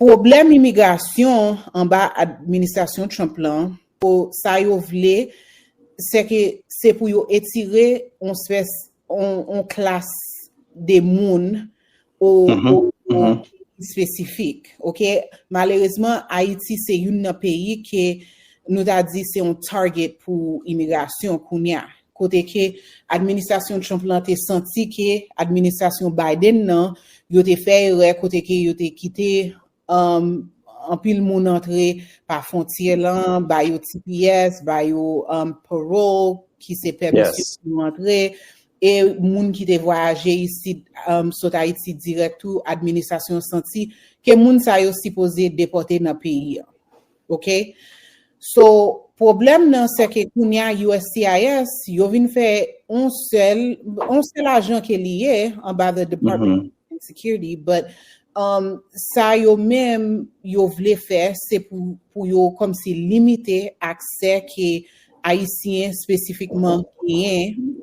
Pwoblèm imigrasyon anba administrasyon Trump lan po sa yo vle se ke se pou yo etire yon espès yon klas de moun o espesifik ok malerezman Ayiti se youn nan peyi ke nou ta di se yon target pou imigrasyon kounya kote ke administrasyon Trump lan te santi ke administrasyon Biden nan yo te fè erè kote ke yo te kite anpil moun antre pa fontyè lan, ba yo tps, ba yo parole ki se pèmisyon pou yo antre e moun ki te vwayaje isit sot Ayiti dirèk tou administrasyon santi ke moun sa yo sipoze depòte nan peyi an. Ok So pwoblèm nan se ke kounye a uscis yo vin fè on sèl on sèl ajan ke li ye anba the department of homeland security but um sa yo menm yo vle fè se pou pou yo kòmsi limite aksè ke ayisyen spesifikman genyen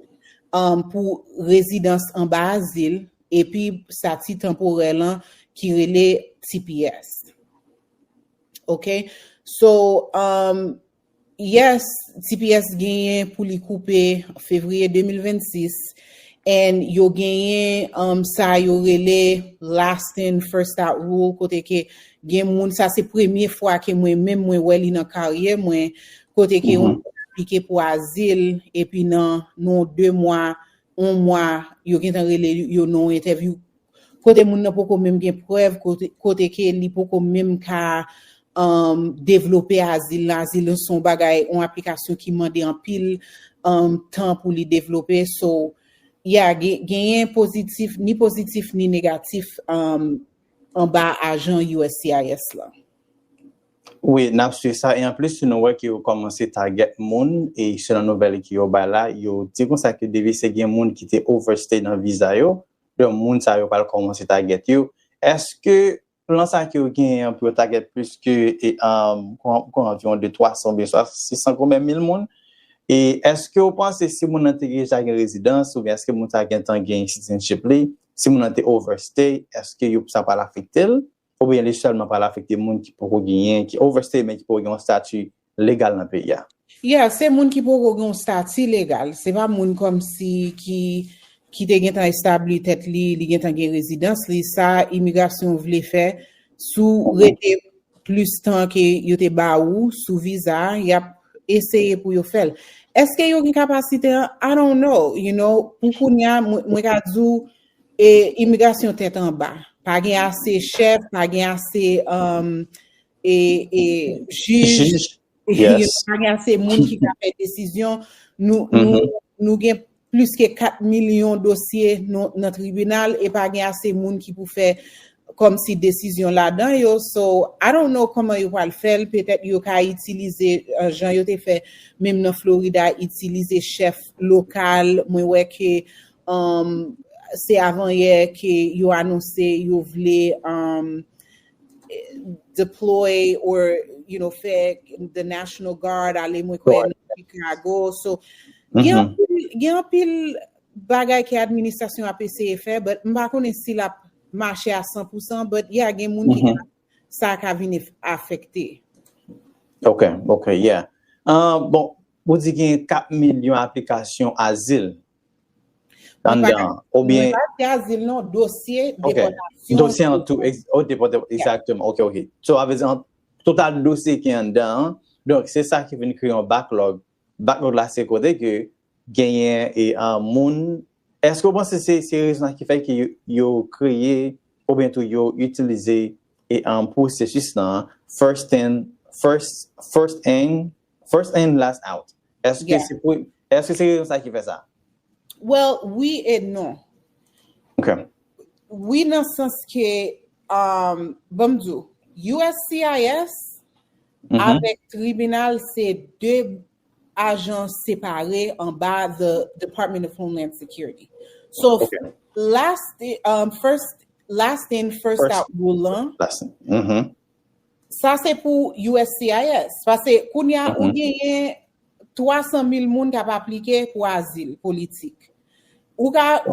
um pou rezidans anba azil epi sati tanporè lan ki rele tps. Ok so um yes tps genyen pou li koupe fevriye 2026 and yo genyen um sa yo rele last in first out rule kote ke gen moun sa se premye fwa ke mwen menm mwen wè li nan karyè mwen kote ke yon moun aplike pou azil epi nan non 2 mwa yon mwa yo gentan rele yo nan yon entèvyou kote moun nan poko menm gen prèv kote ke li poko menm ka devlope azil la, azil se yon bagay yon aplikasyon ki mande anpil tan pou li devlope so ya genyen pozitif ni pozitif ni negatif anba ajan uscis la. Wi nap swiv sa e anplis si nou wè ke yo kòmanse tagèt moun e selon nouvèl ke yo bay la yo di konsa ke depi se gen moun ki te overstay nan viza yo don moun sa yo pral kòmanse tagèt yo eske plan sa ke yo genyen an pou yo tagèt plis ke kon anviwon de 300 oubyen 600 kon men mil moun e eskew panse si moun nan te deja gen rezidans oubyen eske moun sa gentan gen citizenship li si moun nan te overstay eske yo sa pral afektel. oubyen li sèlman pral afekte moun ki poko genyen, ki overstay men ki poko gen yon stati legal nan peyi a? Yeah, se moun ki poko gen yon stati legal, se pa moun kòmsi ki ki te gentan establi tèt li, li gentan gen rezidans li, sa imigrasyon vle fè si w rete plis tan ke yo te ba ou sou viza a, y ap eseye pou yo fè l. Èske yo gen kapasite an? I don't know, you know, pou kounya mwen ka di w E imigrasyon tèt anba. Pa gen ase chèf, pa gen ase um, e, e, jij, Jij, yes. pa gen ase moun ki ka fè desizyon. Nou, nou, mm-hmm. nou gen plis ke 4 milyon dosye nou, nan tribinal e pa gen ase moun ki pou fè kom si desizyon ladan yo. So, I don't know koman yo pral fèl, petèt yo ka itilize uh, jan yo te fè menm nan Florida, itilize chèf lokal. Mwen wè ke Se avanyè ke yo anonse yo vle deploy or you know fè the national guard ale mwen kwè nan Chicago. So gen anpil bagay ke administrasyon ap eseye fè but m pa konnen si l ap mache a 100 pou 100 but yeah gen moun ki ka sa ka vin afekte. Ok, ok, yeah. Bon, ou di gen 4 milyon aplikasyon azil Anndan, oubyen. Mwen pa di azil non, dosye depòtasyon. Ok, dosye an tou, oh depòtasyon, exactement, ok, ok. So, sa vle di an, total dosye ki anndan an, donk se sa ki vin kreye yon backlog. Backlog la se kote ke genyen e moun, èske ou panse se rezon sa ki fè ke yo kreye oubyen tou yo itilize e pwosesis lan, first in, first in, First in last out Eske se pou Eske se rezon sa ki fè sa? Well wi e non Ok Wi nan sans ke um Banm di w uscis avèk tribinal se 2 ajans separe anba the Department of Homeland Security So last um first last in first out rule lan Sa se pou uscis, pase kounye a ou genyen 300 mil moun k ap aplike pou azil politik. Ou ka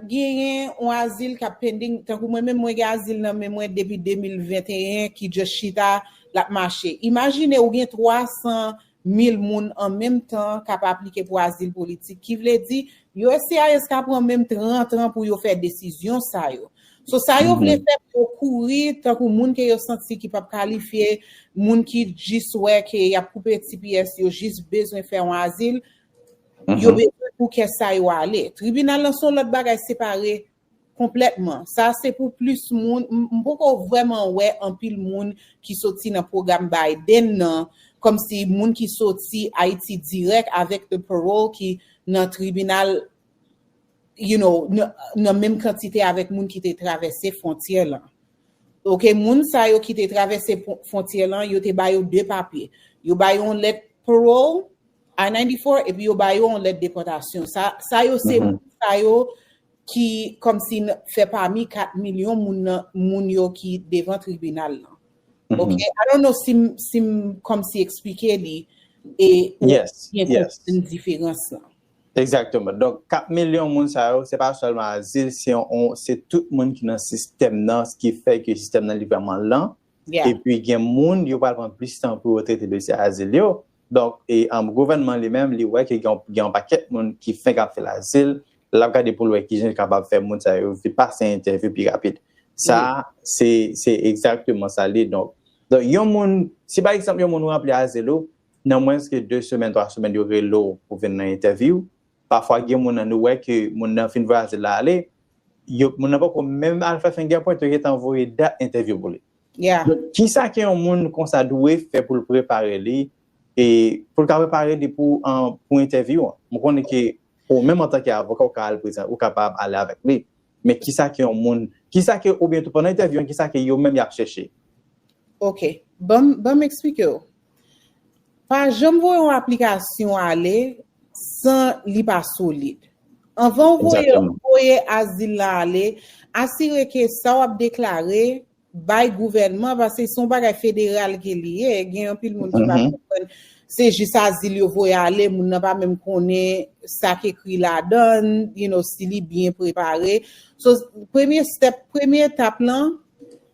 genyen yon azil k ap pending, tankou mwen menm mwen gen azil nan men mwen depi 2021 ki just chita l ap mache. Imajine ou gen 300. mil moun an menm tan k ap aplike pou azil politik, ki vle di, uscis ka pran menm 30 an pou yo fè desizyon sa yo. So, sa yo vle fè pou yo kouri, tankou moun ke yo santi ki p ap kalifye, moun ki jis wè ke y ap koupe tps, yo jis bezwen fè yon azil, yo bezwen pou kè sa yo ale. Tribinal lan se yon lòt bagay separe Konplètman. Sa se pou plis moun, m poko vrèman wè anpil moun ki soti nan pwogram Biden nan, kòmsi moun ki soti Ayiti dirèk avèk the parole ki nan tribinal you know nan menm kantite avèk moun ki te travèse fwontyè lan. Ok moun sa yo ki te travèse fwontyè lan yo te ba yo 2 papye. Yo ba yo yon lèt parole, I-94, epi yo ba yo yon lèt depòtasyon. Sa yo se moun sa yo ki kòmsi fè pami 4 milyon moun nan moun yo ki devan tribinal lan ok i don't know sim sim kòmsi eksplike li e yes yes yon diferans lan. Exactement donk 4 milyon moun sa yo se pa sèlman azil se yon se tout moun ki nan sistèm nan ki fè ke sistèm nan li vrèman lan epi gen moun yo pral pran plis tan pou yo trete dosye azil yo Donk, gouvènman li menm li wè ke gen yon pakèt moun ki fenk ap fè lazil, l ap gade pou l wè ki jan li kapab fè moun sa yo vin pase entèvyou pi rapid. Sa a, se egzakteman sa l ye. Donk, yon moun, si pa egzanp yon moun ou ranpli azil ou, nan mwens ke 2 semèn, 3 semèn yo rele w pou vin nan entèvyou, pafwa gen moun nan nou wè ke moun nan fin voye azil la ale, moun nan poko menm al fè fingerprint yo gentan voye dat entèvyou pou li. Yeah. Donk, ki sa ke yon moun konsa dwe fè pou l prepare li e pou l ka prepare li pou pou entèvyou an? M konnen ke ou menm antanke avoka ou ka al prezan ou kapab ale avèk li, men ki sa ke yon moun, ki sa ke oubyen tou pandan entèvyou an ki sa ke yo menm y ap chèche? Ok. Ban m, ban m eksplike ou. Pa janm voye yon aplikasyon ale san li pa solid. Anvan ou voye voye azil la ale, asire ke sa w ap deklare bay gouvènman paske se yon bagay federal ke li ye, gen anpil moun ki pa konprann se jis azil yo voye ale, moun nan pa menm konnen sa ki ekri ladan l, you know, si li byen prepare. So, premye step, premye etap lan,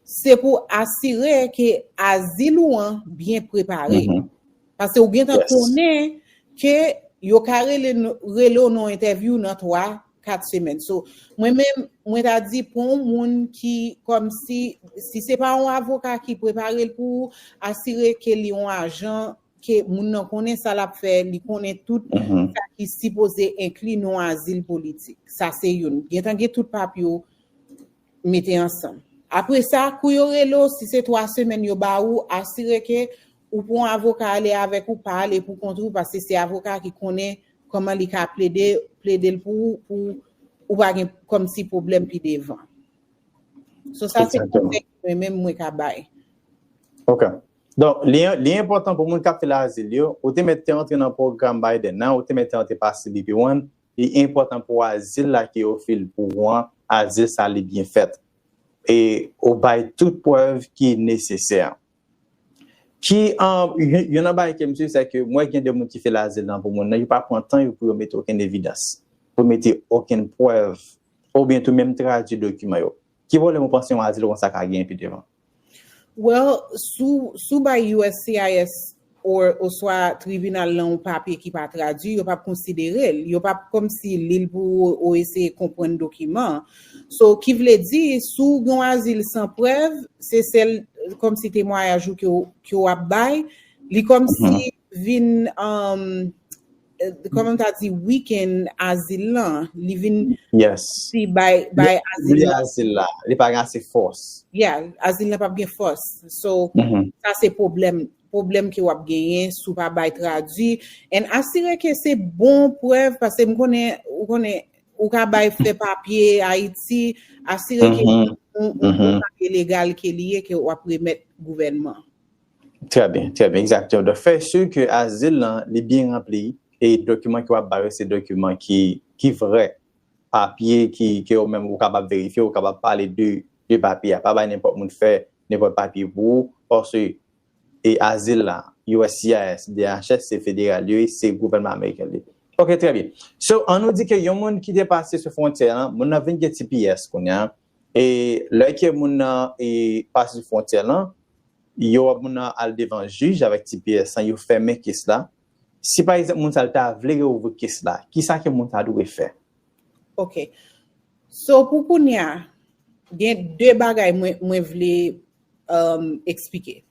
Se pou asire ke azil ou an byen prepare. Pase ou gentan konnen ke yo ka rele ou nan yon entèvyou nan 3, 4 semèn. So, mwen menm, mwen ta di pou yon moun ki kòmsi, si se pa yon avoka ki prepare l pou ou, asire ke li yon ajan, ke moun nan konnen sa l ap fè, li konnen tout sa ki sipoze enkli nan yon azil politik. Sa se youn. Gentan gen tout papye ou. mete ansanm. Apre sa, kou yo rele w, si se 3 semèn yo ba ou, asire ke ou pran avoka ale avèk ou, pa ale pou kont ou, paske se avoka ki konnen kòman li ka plede, plede l pou ou, pou ou pa gen kòmsi pwoblèm pi devan. So sa se konsèy mwen menm mwen ka bay. Ok. Donk, li enpòtan pou moun k ap fè l azil yo, ou te mèt te antre nan pwogram Biden nan, ou te mèt te antre pa CBP One, Li enpòtan pou azil la ki ofil pou ou an, azil sa li byen fèt e ou bay tout prèv ki nesesè. Ki Youn nan bagay ke m swiv se ke m wè gen de moun ki fil azil nan pou moun nan, yo pa pran tan yo pou yo mete okenn evidans, pou yo mete okenn prèv oubyen tou menm tradui dokiman yo. Ki pwoblèm ou panse yon azil konsa ka genyen pi devan? Well, si w bay uscis oswa tribinal lan yon papye ki pa tradui, yo pap konsidere l. Yo pap kòmsi li l pou ou ou eseye konprann dokiman an. So, ki vle di, si w gen yon azil san prèv, se sèl kòmsi temwayaj ou ke w ap bay, li kòmsi vin Kòman m ta di weekend azil lan, li vin si bay azil la. Azil la, li pa gen ase fòs. Yeah, azil la pa gen fòs. So, sa se pwoblèm, pwoblèm ke w ap genyen si w pa bay tradui. And asire ke se bon prèv, paske m konnen, ou konnen, ou ka bay fè papye Ayiti, asire ke yon papye legal ke li ye, ke w ap remèt gouvènman. Trè byen, trè byen, egzakteman. Donk fèy si ke azil lan li byen ranpli e dokiman ke w ap ba yo se dokiman ki ki vrè, papye ki ke ou menm ou kapab verifye, ou kapab pale de de papye a. Pa bay nenpòt moun fè nenpòt papye pou ou paske e azil la uscis, DHS se federal yo ye, se gouvènman ameriken l ye. Ok trè byen. So an nou di ke yon moun ki te pase sou fwontyè an, moun nan vin gen tps kounye a, E lè ke moun nan e pase sou fwontyè lan, yo ap moun nan al devan jij avèk ti pyès lan, yo fèmen kes la. Si pa egzanp moun sa l ta vle reouvri kes la, kisa ke moun sa dwe fè? Ok. So pou kounye a, gen de bagay mwen mwen vle emm eksplike.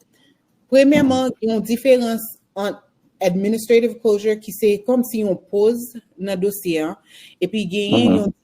Premyèman, gen yon diferans ant administrative closure ki se kòmsi yon poz nan dosye an, epi genyen yon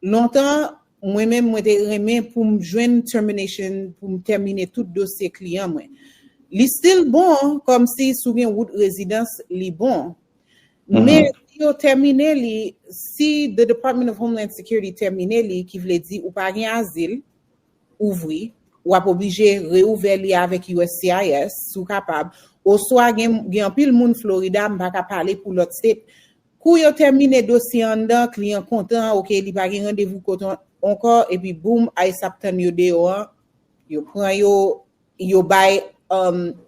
Lontan, mwen menm mwen te renmen pou m jwenn termination pou m tèmine tout dosye kliyan mwen. Li still bon kòmsi si w gen wout rezidans li bon. Men si yo tèmine li, si the Department of Homeland Security tèmine li ki vle di ou pa gen azil, ouvri, w ap oblije reouvè li avèk uscis si w kapab, oswa gen anpil moun Florida, m pa ka pale pou lòt state, Kou yo tèmine dosye anndan kliyan kontan ok li pa gen randevou kot ankò epi boom ice ap tann yo deyò an yo pran yo yo bay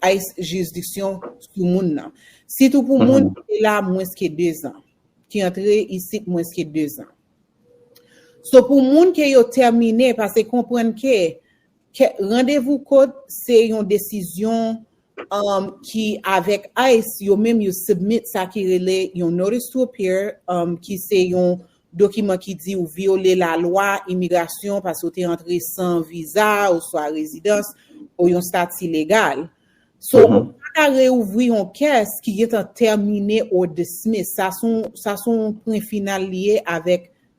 ice jirisdiksyon sou moun nan sitou pou moun ki te la mwens ke 2 zan ki antre isit mwens ke 2 zan so pou moun ke yo tèmine pase konprann ke Kè randevou kòt se yon desizyon ki avèk ice yo menm yo submit sa ki rele yon notice to appear ki se yon dokiman ki di ou vyole lalwa imigrasyon paske ou te antre san viza oswa rezidans ou yon stati legal. So ou pa ka reouvri yon kès ki gentan tèmine or dismiss. Sa son pwen final li ye avèk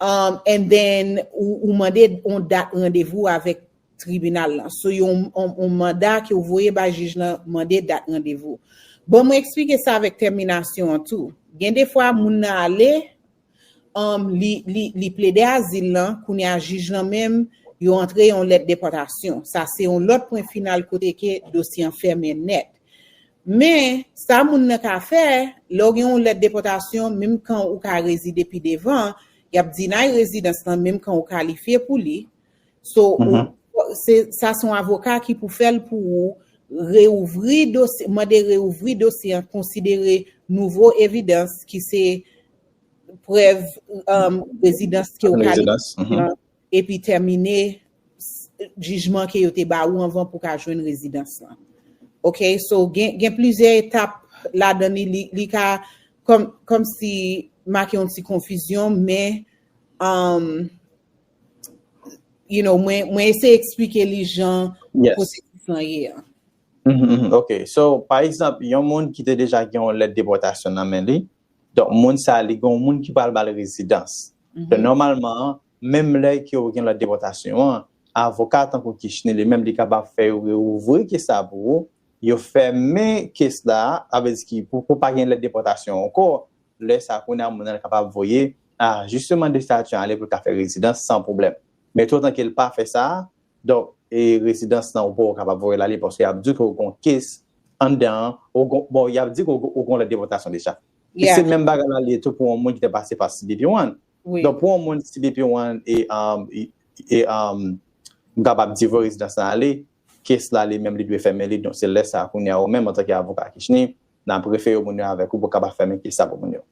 And then ou mande yon dat randevou avèk tribinal lan. Sou yon manda ke ou voye bay jij lan mande dat randevou. Bon mwen eksplike sa avèk tèminasyon an tou. Gen defwa moun nan ale, li plede azil lan, kounye a jij lan menm yo antre yon lèt depòtasyon. Sa se yon lòt pwen final kote ke dosye an fèmen nèt. Men, sa moun nan ka fè, lè w gen yon lèt depòtasyon, menm kan ou ka rezide pi devan, y ap deny rezidans lan menm kan ou kalifye pou li. So, sa se yon avoka ki pou fè l pou ou, reouvri dosye, mande reouvri dosye an, konsidere nouvo evidans ki se prèv rezidans ke ou kalifye epi tèmine jijman ke yo te ba ou anvan pou ka jwenn rezidans lan ok so gen plizyè etap ladan li li ka kòmsi make yon ti konfizyon men umm you know mwen eseye eksplike li jan pwosesis lan ye a. Ok so pa egzanp yon moun ki te deja gen yon lèt depòtasyon nan men li donk moun sa li gen yon moun ki pral bal rezidans Donk nòmalman, menm lè ke ou gen lòd depòtasyon an, avoka tankou Kishne li menm li kapab fè yo reouvri kes la pou ou, yo fèmen kes la, sa vle di ki pou ou pa gen lèt depòtasyon ankò, lè sa kounye a moun nan kapab voye a ajisteman de stati ale pou l ka fè rezidans san pwoblèm. Men tou otan ke l pa fè sa, donk e rezidans lan ou poko kapab voye l ale paske y ap di w ke ou gon kes anndan an, bon y ap di w ke ou gon lèt depòtasyon deja. E se menm bagay la li ye tou pou yon moun ki te pase pa CBP One. Donk pou yon moun CBP One e m kapab di vo rezidans lan ale, kes la li menm li dwe fèmen li, donk se lè sa kounye a ou menm antanke avoka Kishne, n ap refere moun yo avèk ou pou w kapab fèmen kes sa pou moun yo.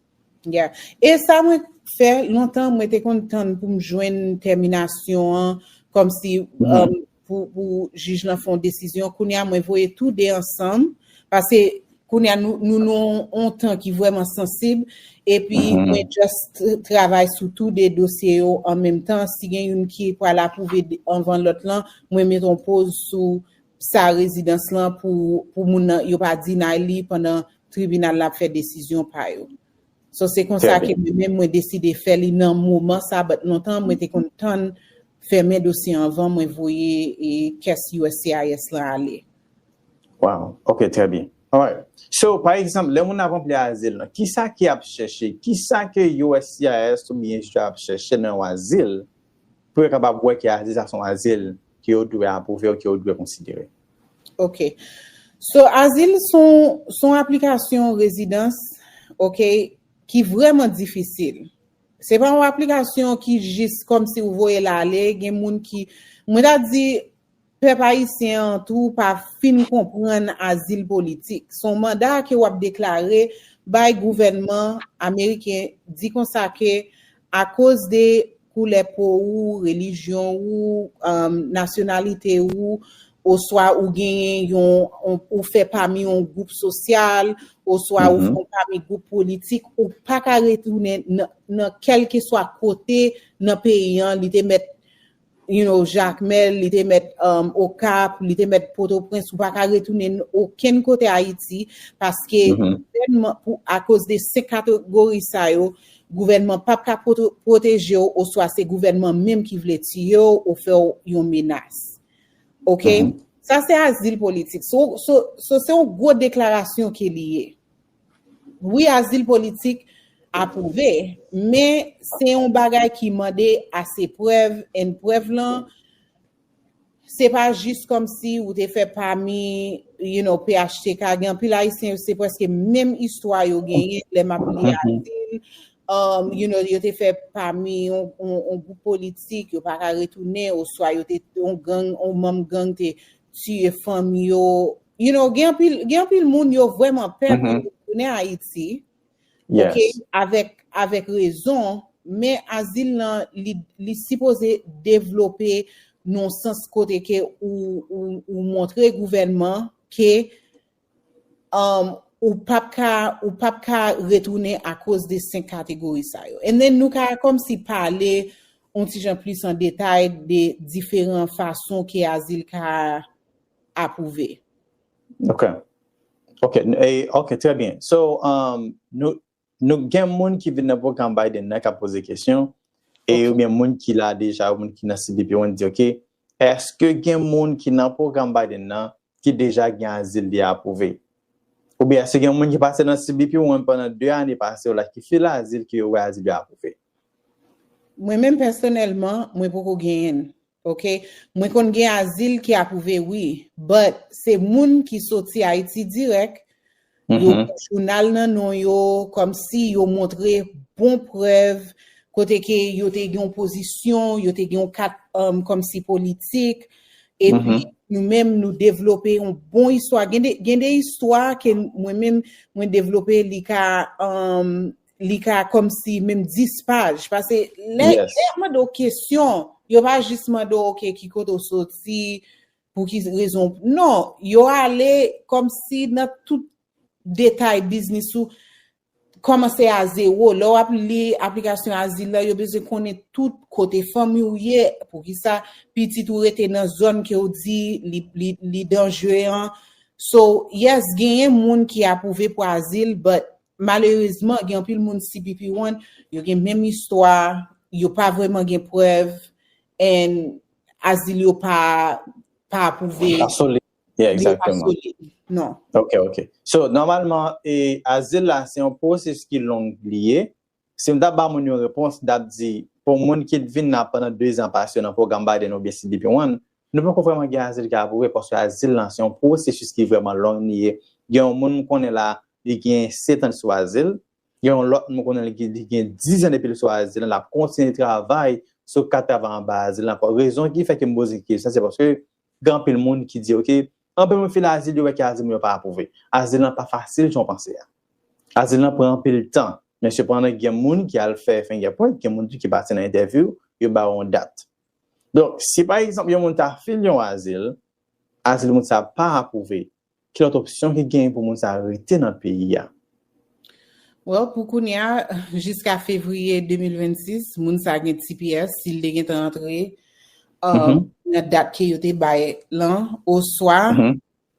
Ya. E sa mwen fè lontan mwen te konn tann pou m jwenn tèminasyon an kòmsi pou jij lan fè yon desizyon kounye a mwen voye tou 2 ansanm pase kounye a nou nou nou yon tan ki vreman sansib epi mwen just travay sou tou 2 dosye yo an menm tan si gen yon ki pral apouve anvan lot lan mwen met yon poz sou sa rezidans lan pou moun nan yo pa deny li pandan tribinal la ap fè desizyon pa yo. So se konsa ke mwen menm mwen deside fè li nan moman sa but lontan mwen te konn tann fèmen dosye anvan mwen voye kès uscis lan ale. Wow ok trè byen alright so pa egzanp lè moun ap anpli azil lan kisa ki ap chèche kisa ke uscis oubyen uscis ap chèche nan yon azil Pou yo kapab wè ke azil sa son azil ke yo dwe apwouve ou ke yo dwe konsidere. Ok. So azil son son aplikasyon rezidans ok ki vrèman difisil. Se pa yon aplikasyon ki jis kòmsi ou voye l ale, gen moun ki mwen ta di Pèp ayisyen an tou pa fin konprann azil politik. Son manda ke wap deklare bay gouvènman ameriken di konsa ke akoz de koulè po ou, relijyon ou, nasyonalite ou, oswa ou genyen yon, ou fè pami yon gwoup sosyal, oswa ou fon pami gwoup politik, ou paka retounen nan kèlkeswa kote nan peyi an li te mèt you know, Jakmèl, li te mèt um, Okap, li te mèt Potoprens, ou pa ka retounen okenn kote Ayiti, paske mm-hmm. gouvènman, pou akoz de se kategori sa yo, gouvènman pap ka pwoteje ou, oswa se gouvènman menm ki vle tiye ou, ou fè ou yon menas. Ok? Mm-hmm. Sa se azil politik. So, so, so se yon gwo deklarasyon ke li ye. Wi azil politik apwouve, men se yon bagay ki mande ase prèv and prèv lan se pa jis kòmsi ou te fè pami you know phtk gen anpil ayisyen yo se prèske menm istwa yo genyen lè map li azil you know yo te fè pami yon gwoup politik yo pa ka retounen oswa yo te yon gang yon manm gang te tiye fanmi yo You know, gen anpil, gen anpil moun yo vwèman pè pou yo tounen Ayiti, ok, avèk, avèk rezon, men azil lan li, li sipoze devlope non sans kote ke ou, ou, ou montre gouvènman ke um, ou pap ka, ou pap ka retounen akoz de 5 kategori sa yo. And then nou ka kòmsi pale yon ti jan plis an detay de diferan fason ke azil ka apwouve. Ok. Ok. Ok. Trè byen. So, nou gen moun ki vin nan pwogram Biden nan ka pwoze kesyon e ou byen moun ki la deja ou moun ki nan CBP ou moun di ok, eske gen moun ki nan pwogram Biden nan ki deja gen azil li apwouve? Ou byen eske gen moun ki pase nan CBP ou moun pandan 2 ane pase ou la ki fil azil ki yo wè azil yo apwouve? Mwen menm pèsonèlman, mwen poko genyen. Ok mwen konn gen azil ki aprouve wi but se moun ki soti ayiti dirèk yo gen jounal nan non yo kòmsi yo montre bon prèv kote ke yo te gen yon pozisyon yo te gen yon kat kòmsi politik epi nou menm nou devlope yon bon istwa gen de istwa ke mwen menm mwen devlope li ka li ka kòm si menm 10 paj. Pase lè yo mande w kesyon, yo pa jis mande w ok ki kote w soti, pou ki rezon. Non, yo ale kòm si nan tout detay biznis ou, kòmanse a zewo. Lè w ap li aplikasyon azil la, yo bezwen konnen tout kote fanmi w ye, pou ki sa pitit ou rete nan zòn ke w di li danjre an. So, yes, genyen moun ki apwouve pou azil, but Malerezman gen anpil moun cpp one yo gen menm istwa yo pa vrèman gen prèv and azil yo pa pa apwouve. Pa solid yeah exactement. Yo pa solid non. Ok ok so nòmalman e azil la se yon pwosesis ki long li ye Si m t ap ba moun yon repons, m t ap di, pou yon moun ki t vin la pandan dezan pase yo nan pwogram Biden oubyen CBP One, nou poko vrèman gen azil ki apwouve paske azil la se yon pwosesis ki vrèman long li ye. Gen yon moun m konnen la, li gen setan li sou azil. Gen yon lòt moun m konnen li gen dizan depi li sou azil lan, l ap kontinye travay sou kat travay anba azil lan. Rezon ki fè ke m poze kesyon sa se paske gen anpil moun ki di ok, Anpil moun file azil yo wè ke azil moun yo pa apwouve. Azil lan pa fasil jan w panse a. Azil lan pran anpil tan. Men sepandan gen moun ki al fè fingerprint, gen moun tou ki pase nan entèvyou, yo ba ou yon dat. Donk, si pa egzanp yon moun ta file yon azil, azil moun sa a pa apwouve, ki lòt opsyon ki genyen pou moun sa a rete nan peyi a? Well pou kounya jiska fevriye 2026 moun sa gen tps si l te gentan antre uh, mm-hmm. nan dat ke yo te bay lan oswa mm-hmm.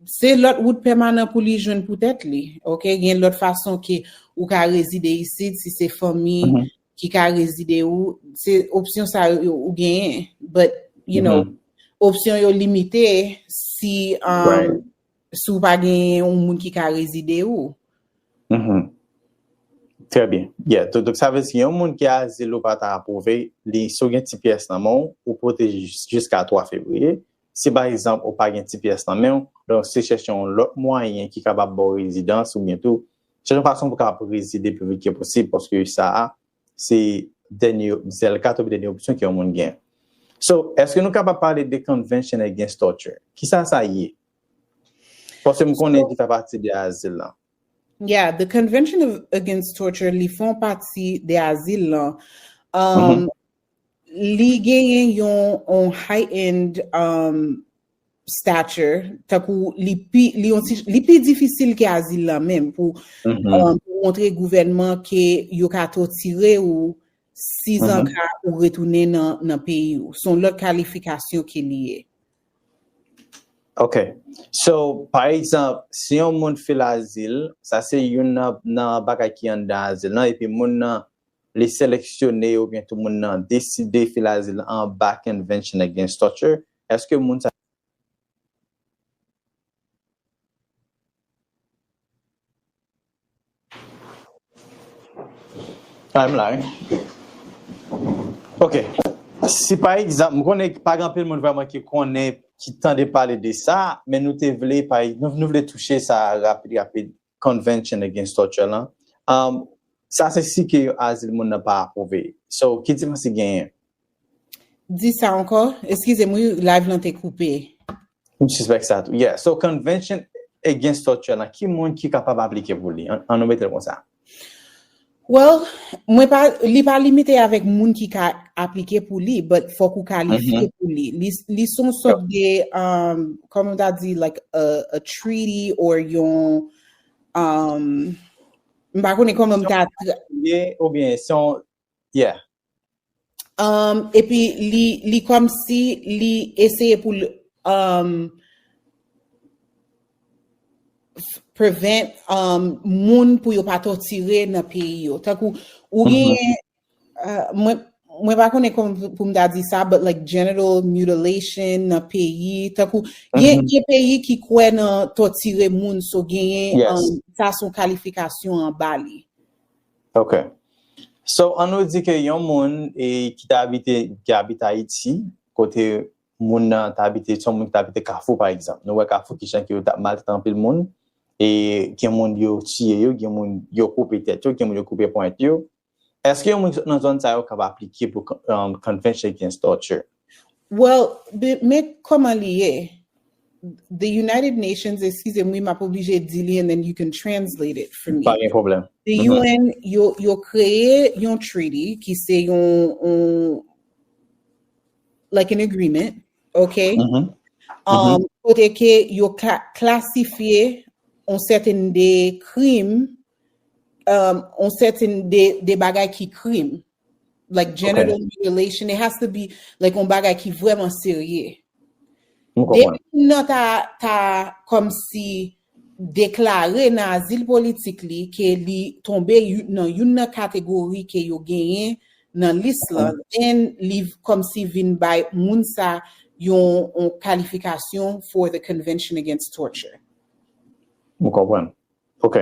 se lòt wout pèmanan pou li jwenn pou tèt li. Ok, gen lòt fason ke ou ka rezide isit si se fanmi mm-hmm. ki ka rezide ou, se opsyon sa yo ou genyen. But, you know, opsyon yo limite si um, Si w pa gen yon moun ki ka rezide ou. Mh. Trè byen. Yeah. To dok sa vle si yon moun ki azil ou pa ta apwouve li si w gen ti pyès nan men w, ou pwoteje jis jiska 3 fevriye. Si pa egzanp ou pa gen ti pyès nan men w, donk se chèche yon lòt mwayen ki kapab ba w rezidans oubyen tou chèche yon fason pou w kapab rezide pi vit ke posib paske sa a se dènye sèl kat oubyen dènye opsyon ke yon moun gen. So, eske nou kapab pale de convention against torture? Kisa sa ye? Paske m konnen li fè pati de azil lan. Yeah, the convention of against torture li fon pati de azil lan. Li genyen yon heightened stature, tankou li pi, li yon ti, li pi difisil ke azil lan menm pou um, montre gouvènman ke yo ka totire ou si zan mm-hmm. ka ou retounen nan, nan peyi ou. Son lòt kalifikasyon ke li ye. Ok. So, pa egzamp, si yon moun fil azil, sa se yon nan, nan bagay ki an dan azil lan, epi moun nan li seleksyone ou byen tou moun nan deside fil azil an ba Convention Against Torture, Eske moun sa yo. Ah m la wi. Ok. Si pa egzanp, m konnen pa gen anpil moun vreman ki konnen, ki tande pale de sa, men nou te vle pa nou vle touche sa rapid rapid. Convention Against Torture lan, sa se si ke yon azil moun nan pa apwouve. So, ki diferans ki genyen? Di sa ankò? Eskize m wi, live lan te koupe. M sispèk sa tou. Yeah, so Convention Against Torture lan, ki moun ki kapab aplike pou li? An nou mete l konsa. Well, mwen pa, li pa limite avèk moun ki ka aplike pou li, but fòk ou kalifye pou li. Li, li son sòt de, um, kòm ou ta di, like a, a treaty or yon, um, m pa konnen kòman m ta. Ye, ou byen, son, yeah. Um, epi li li kòm si li eseye pou l um, prevent um, moun pou yo pa totire nan peyi yo. Tankou ou mhm. gen uh, mwen mwen pa konnen kon pou m da di sa, but like genital mutilation nan peyi, tankou, gen mm peyi ki kwe nan totire moun, so genyen, yes. um, sa son kalifikasyon an bali. Ok So an nou di ke yon moun e ki te abite ki abite Ayiti kote moun nan te abite son moun ki te abite kafou pa egzanp nou wè kafou kijan ke yo tap maltrete anpil moun e gen moun yo tiye yo gen moun yo koupe tèt yo gen moun yo koupe ponyèt yo eske yon moun ki sot nan zòn sa yo kab aplike pou convention against torture? Well men koman li ye. The United Nations, excuse m wi map oblije di li and then you can translate it for me. Pa gen pwoblèm. The UN yo kreye yon treaty ki se yon like an agreement ok kote ke yo klasifye yon sèten de krim yon sèten de bagay ki krim Like genital mutilation, it has to be like yon bagay ki vreman serye. Depi moun nan ta kom si deklare nan azil politik li ke li tonbe nan yon nan kategori ke yo genyen nan lis la, then li kom si vin bay moun sa yon kalifikasyon for the Convention Against Torture. Mwen konprann. Ok.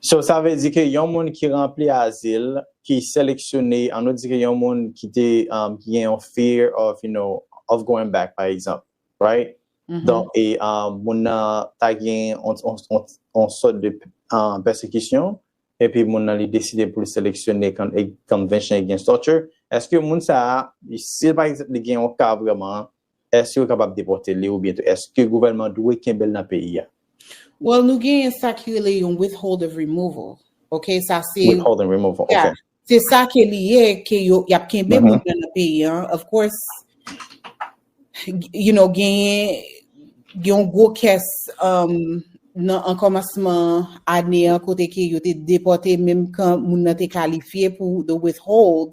So sa vle di ke yon moun ki ranpli azil, ki seleksyone, an nou di ke yon moun ki te ki gen yon fear of you know, of going back pa egzanp, right? Donk e moun nan ta gen yon sòt de pèsekisyon epi moun nan li deside pou li seleksyone convention against torture, eske moun sa a, si pa egzanp li gen yon ka vreman, Èske yo kapab depòte li oubyen tou èske gouvènman dwe kenbe l nan peyi a? Well nou genyen sa ki rele yon withhold of removal ok sa se Withhold and removal ok. Yeah se sa ke li ye ke yo y ap kenbe moun nan nan peyi an of course you know genyen gen yon gwo kès nan an kòmansman ane an kote ke yo te depòte menm kan moun nan te kalifye pou the withhold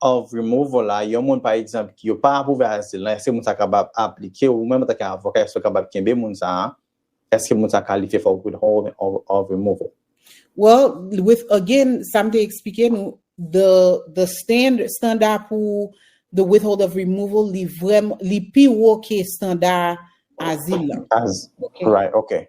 of Removal la, yon moun pa egzanp ki yo pa apwouve azil lan, èske moun sa kapab aplike, ou menm antanke avoka èske ou kapab kenbe moun sa a, èske moun sa kalifye for withholding of removal? Well, with again, sa m te eksplike nou, the the standard, standa pou the withhold of removal li vrèman, li pi wo ke standa azil lan. As, right, ok.